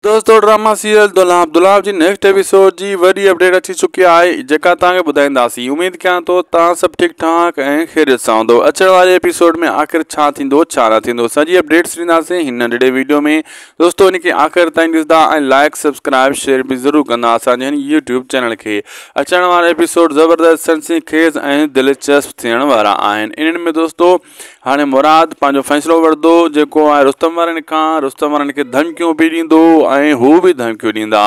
دوستو drama serial Dulha Abdullah جي next episode جي وڏي اپڊيٽ اچي چڪي آهي جيڪا توهان کي ٻڌائينداسين اميد ڪيان ٿو توهان سڀ ٺيڪ ٺاڪ ۽ خيريت سان هوندو اچڻ واري ايپيسوڊ ۾ آخر ڇا ٿيندو ڇا نه ٿيندو سڄي اپڊيٽس ڏينداسين هن ننڍڙي ويڊيو ۾ دوستو ان کي آخر تائين ڏسندا ۽ لائڪ سبسڪرائب شيئر به ضرور ڪندا اسان جي هن يوٽيوب چينل کي اچڻ وارا ايپيسوڊ زبردست سنسني خيز ۽ دلچسپ ٿيڻ وارا آهن انهن ۾ دوستو هاڻي مراد پنهنجو فيصلو وٺندو جيڪو آء رستم وارن کان رستم وارن کي ڌمڪيون به ڏيندو ۽ هو به ڌمڪيون ڏيندا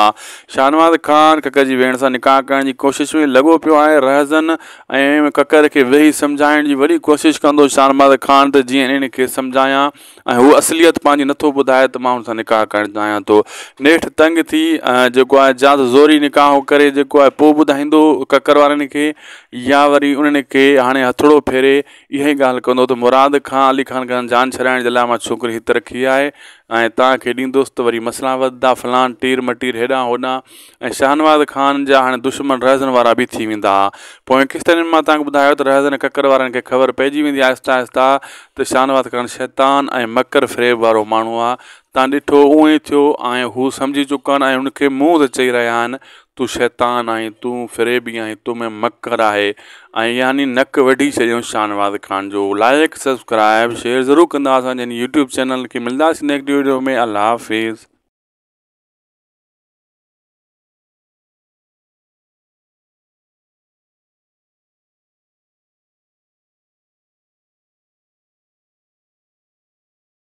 شاهنواز خان ڪڪر جي ويڻ سان نڪاح ڪرڻ جي ڪوشش ۾ لڳو پيو آهي رهزن ۽ ڪڪر کي ويهي سمجهائڻ جي وڏي ڪوشش ڪندو شاهنواز خان ته جيئن انهن کي سمجهايان ۽ هو اصليت پنهنجي نٿو ٻڌائي ته ماڻهن سان نڪاح ڪرڻ چاهيان ٿو نيٺ تنگ ٿي جيڪو آهي زيادت زوري نڪاح ڪري جيڪو آهي پوء ٻڌائيندو ڪڪر وارن کي يا وري انهن کي هاڻي هٿڙو ڦيري اها ئي ڳالهه ڪندو ته مراد کان علي خان کان جان ڇڏائڻ جي لاء مان ڇوڪري هت رکي آهي ۽ توهان کي ڏيندوس ته وري مسئلا وڌندا فلان ٽير مٽير هيڏانهن هوڏانهن ۽ شاهنواز خان جا هاڻي دشمن رهزن وارا به ٿي ويندا پوئين قسطن ۾ مان توهان کي ٻڌايو ته رهزن ۽ ڪڪر وارن کي خبر پئجي ويندي آهستي آهستي ته شاهنواز خان شيطان ۽ مڪر فريب وارو ماڻهو آهي تان ڏٺو اهو ئي ٿيو آهين هو سمجهي چڪا آهن ۽ هن کي منهن تي چئي رهيا آهن تون شيطان آهين تون فريبي آهين تو ۾ مڪر آهي ۽ يعني نڪ وڍي ڇڏيو شاهنواز خان جو لائق سبسڪرائب شيئر ضرور ڪندا اسان جي هن يوٽيوب چينل کي ملداسين نيڪٽ ويڊيو ۾ الله حافظ.